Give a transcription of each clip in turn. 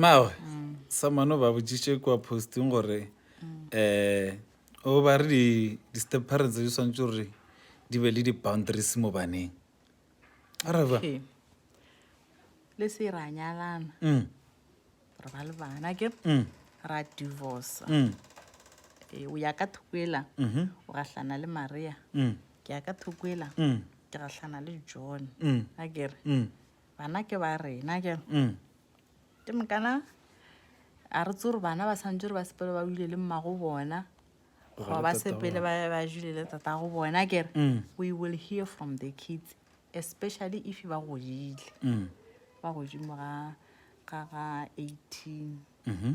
Mmaagwe, Samano ba botšiše kua posting gore um o ba re di-step parents di swantse gore di be le di-boundaries mo baneng. A re ba Okay. le se ra nyalana Mm, re ba le bana ke mm, ra divorce mm, Eh, o ya ka thoko ela mhm, o gahlana le maria mm, ke ya ka thoko ela mm, ke gahlana le john mm, a kere mm, bana ke ba rena ke mm. ke mokana a re tsore bana ba santse re ba sepele ba buile le mmago bona goba ba sepele ba jule le tata go bona ke re mm. we will hear from the kids especially if ba godile mm. ba godimo ga ga eighteen mm-hmm.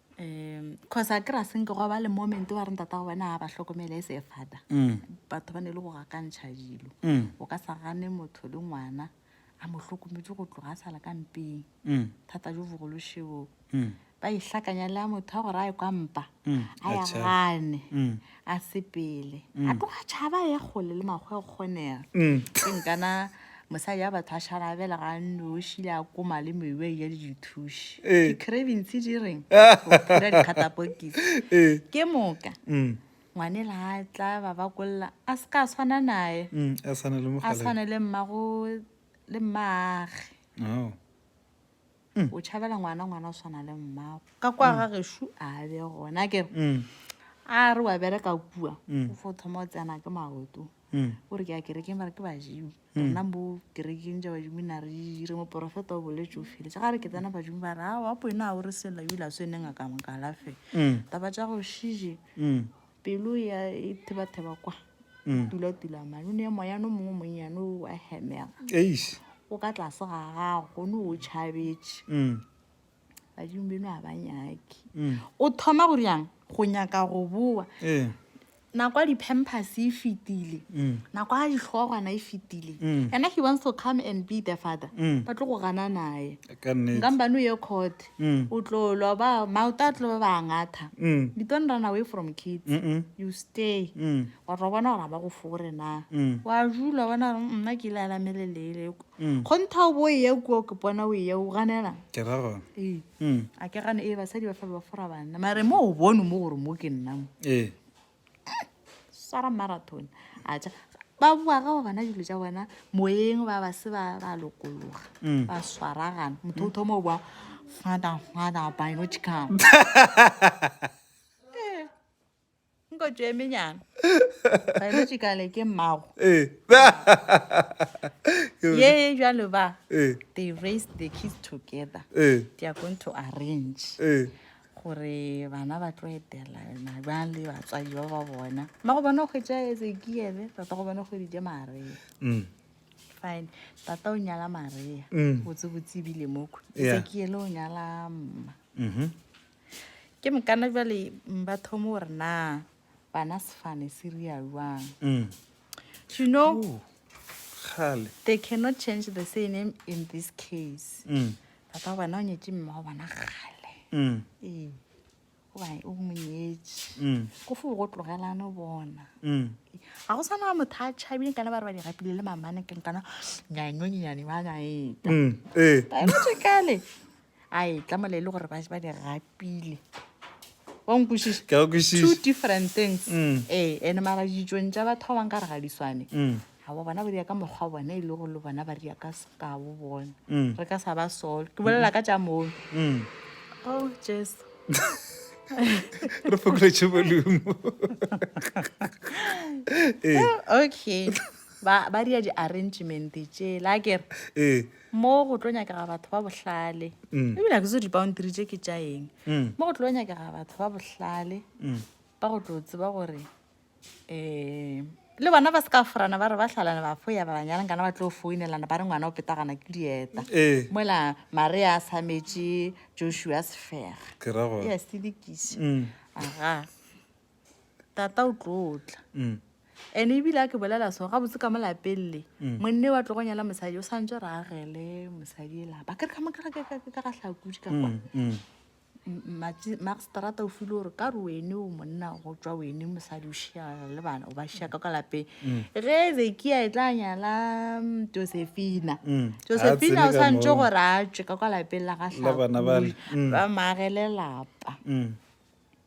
um cause a kry-a senke gwa ba le moment wa re ntata go bona ga ba hlokomele e se e fata Mm. batho ba ne e le go gakantšha dilo Mm. o ka sa gane motho le ngwana a mo hlokometse go tloga a sa le ka mpeng Mm. thata jo bogološeo Mm. ba ihlakanya le ya motho a gore a e kwa mpa Mm, a ya atjha. gane Mm. a sepele a mm. tloga tšhaba ye kgole le makgwa e kgonega mm. ke nkana mosadi ya batho a šarabela ga noši le a koma le mewe ya le dithuši eh. di-cravings di reng ra dikgatapokisi eh. ke moka mm. ngwane le a tla ba ba kolla a se ka tshwana naye a tshwane le mmago le mmaage oh. o tšhabela ngwana ngwana o swana le mmago ka kwa ga gešu a be gona ke a re wa bereka kua o fo thoma o tsena ke maoto o re ke ya kerekeng ba re ke badimo rena bo kerekeng ja badimo na re dire moporofeta o boletse o feletse ga re ke tsena badimo ba re a wa po ena a o re sela ebile a se neng a ka mokalafela taba ja go šije pelo ya e thebatheba kwa mm. tulatula mane o ne moyano mongwe monnyane o wa hemega o ka tlase ga gago gone o tšhabetse mm. badimo beno ga ba nyake mm. o thoma go riang go nyaka go boa eh. nako ya di-pampers e fetile nako ya ditlhogwana e fetile ena he wants to come and be the father ba tlo go gana naye nkampane o ye court Mm. o tlo lwa ba maoto a tlo ba ngatha Mm. you don't run away from kids Mm-mm. you stay Mm. wa tlo bona gore a ba go fore na Mm. wa jula bona gore "Mm, nna ke ile alameleleele Mm. kgontha o bo eye kuo ke pona o eye o ganela ke ra gona ee Mm. a ke gane ee basadi ba fela ba fora banna mare mo o bone mo gore mo ke nna mo ee swara marathon a ja ba bua ga bana dilo tša bona moyeng ba ba se ba ba lokologa mm. ba swaragana motho o thoma o bua fada fada biological eh, nko tšo emenyana biological ke mmago eh. ye ye jalo ba eh. they raise the kids together they are going to arrange gore bana ba tlo etelana bjang le batswadi ba ba bona mma go bona kgwetsa ezekiele tata go bona kgweditse maria mm. fine tata o nyala maria mm. botsebotse ebile moko ezekiele o nyala mma mm-hmm. ke mokana jale ba thomo gore na bana sefane se ria jwang you know kgale they cannot change the surname in this case papa bana o nyetše mme wa bona kgale ee gobane o monyetše ko fo go tlogelane bona ga go tshwana motho a tšhabile kana ba re ba di rapile le mamane ke nkana nyanonyane ba naeta ee kale a e tla mola e le gore ba ba di gapile wa nkwešiša Ke a go kwešiša. two different things Mm. ee and mara ditsong tša batho ba bang ka re ga di swane Mm. ga ba bona ba dia ka mokgwa wa bona e le gore le bona ba dia ka sekabo bona Mm. re ka sa ba solo ke bolela ka tša mono Mm. oh jesu re fokoletše volume ee okay ba ba dia di-arrangement tšela kere ee mo go tlo nyakega batho ba bohlale mm. ebile ke zo dipauntiri tše ke tša eng mm. mo go tlo nyakega batho ba bohlale mm. ba go tlo tseba gore um le bona ba se ka forana ba re ba tlhalane ba fo ya ba banyaleng kana ba tlo founelana ba re ngwana o petagana ke dieta eh. mola marea a sametše joshua sefega ya sedikise aga tata o tlotla mm. and ebile a ke bolela so gabotse ka molapelele mm. monne wa tlogo nyala mosadi o santse re agele mosadi e lapa ke re ka mokerekekeke ka gatlhakudi ka kwa mm, maxtrata o file gore ka re wene o monna go tswa wene mosadi o šiana le bana o ba šiaka ka lapeng ge zekia e tla nyala josephina josephina o santse gore a tswe ka kwa lapeng la gatlhakudi ba maagele lapa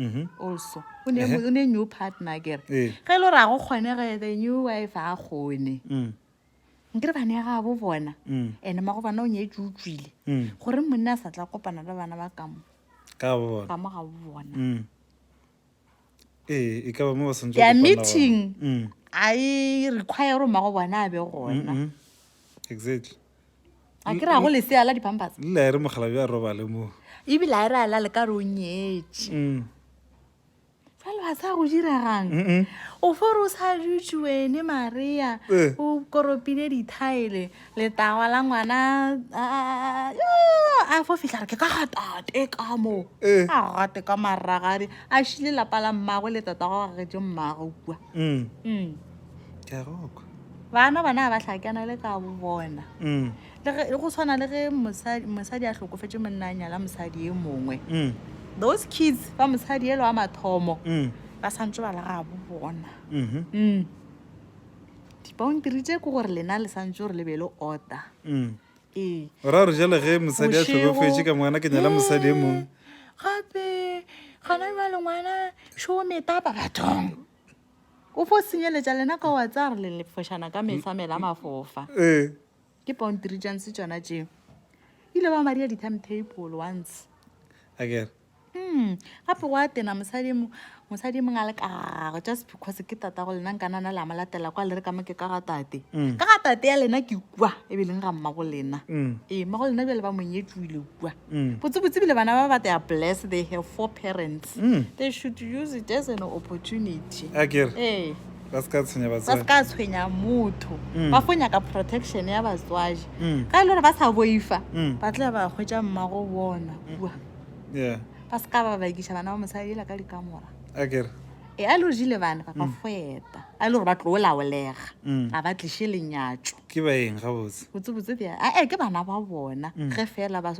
Mm-hmm. also o ne o ne new partner kere eh. ge e le gore a go kgone ge the new wife a kgone mm. nkere bane ya gabo bona mm. and mago bana o nyetse o tswile mm. gore monna a sa tla kopana le bana ba kamo ka mo gabo bona ee e ka ba mo ba santse ya meeting a e require gore mago bona a be gona exactly a ke ra go lesea la dipampers lela e re mogalabi a robale moo ebile a e re a lale ka re o nyetše mm. fale ba sa go diregang o fore o sa dutse wene maria eh. o koropile dithaele letawa la ngwana a fo fitlha re ke ka gatate ka moo eh. a gate ka maragadi a šile lapa la mmago le tatago gagetse mmago kua mm. mm. bana bona ga ba hlakana le ka bona mm. go tshwana le ge mosadi a hlokofetse monna a nyala mosadi e mongwe mm. those kids ba mosadi elo wa mathomo mm. ba santse ba lega bo bona mm-hmm. dipaontiri tse ke gore lena le santse gore le be le order ee. ra re jale ge mosadi a tlhokofetse ka ngwana ke nyala mosadi e mongwe gape gana ba lengwana šometapa bathong O fo senyeletša lena ka wa tsa re le lefošana ka mehla mela mafofa. Eh. Ke Bound Regions tšona tšeo. Ile ba maria di-timetable once. Akere. Mm. Gape go a tena mosadi mo mosadi mong a le kago just because ke tata go lena nka nana le a mo latela kwa le re ka mo ke ka ga tate. Mm. Ka ga tate ya lena ke kwa e be leng ga mma go lena. Mm. Ee, mma go lena bjale ba monyetšwile kwa. Mm. botsebotse bana ba ba they are blessed they have four parents mm. they should use it as an opportunity akere ee ba se ka tshwenya batswadi ba se ka tshwenya motho mm. ba go nyaka protection ya batswadi mm. ka e le gore ba sa boifa mm. ba tla ba hwetša mmago bona kua yeah. ba se ka ba bakiša bana ba mosadi ela ka dikamora akere e a lo jile bana ba mm. feta a e le gore ba tlo laolega mm. a ba tliše lenyatso ke baeng gabotse botsebotse bja ae ke bana ba bona mm. ge fela ba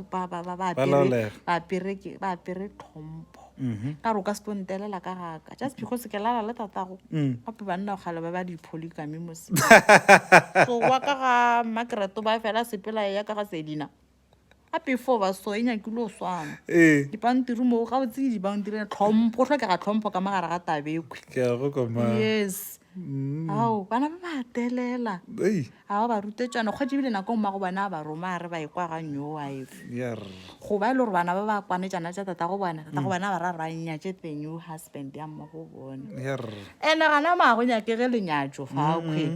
apere tlhompho mm-hmm. ka gore o ka se tontelela ka gaka just because ke lala le tatago gape banna gale ba ba dipholi kame mose so wa ka ga makereto ba fela sepela ya ka ga sedina a pefo ba so e nyakile o swana ee dipantiri moo ga o tsenye dipantiri ya tlhompho go tlhokega tlhompho ka magare ga tabekwe ke a go kwa ma yes ao bana ba ba telela ei ga ba ba rute tswana kgwa jebile nako mmago bana a ba roma a re ba e kwa ga nyo wa efe ya re go ba e le gore bana ba ba kwane tsana tša tata go bona tata go bona ba ra ranya tše the new husband ya mmago bona ya re ene gana mago nyakege lenyatso fa akhwe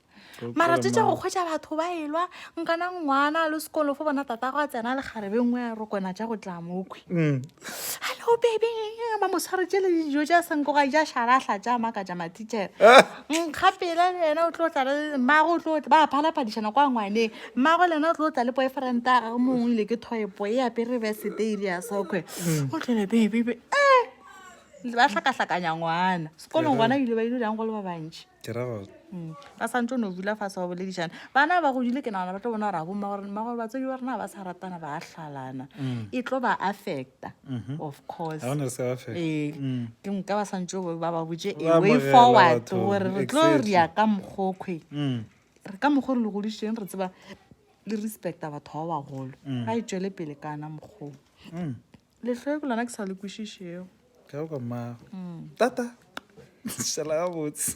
mara tse tša go kgwetsa batho ba elwa nkana ngwana le sekolo fo bona tata go a tsena le garebe nngwe ya rokona tša go tla mokhwi mm. hallo bebe ba mosware tše le dijo tša senkoga ja šalahla tša maka tša matichere eh. nkgapela le yena o tlo tla le mmago o tlo ba phalaphadišana kwa ngwaneng mmago le yena o tlo tla le boyfriend a gage mongwe ile ke thoepo e apere beseteile ya sokwe mm. o tlole bebebe e eh. ba hlakahlakanya ngwana sekolong ngwana ile ba ile jang go le ba bantšhi ke ra gore mm. ba santse o no dula fa se wa boledišana bana ba godile ke nagana ba tlo bona gore a bomma gore mma gore batswedi ba rena ba sa ratana ba hlalana mm. e tlo ba affecta mm-hmm. of course ee mm. ke nka ba santse ba ba botse way forward gore re tlo re ya ka mokgokgwe re ka mokgwa re le godišeng re tseba le respecta batho ba bagolo ga e tswele pele kana mokgoo letlhoe ke lona ke sa le kwešišego ka go mmago tata šala gabotse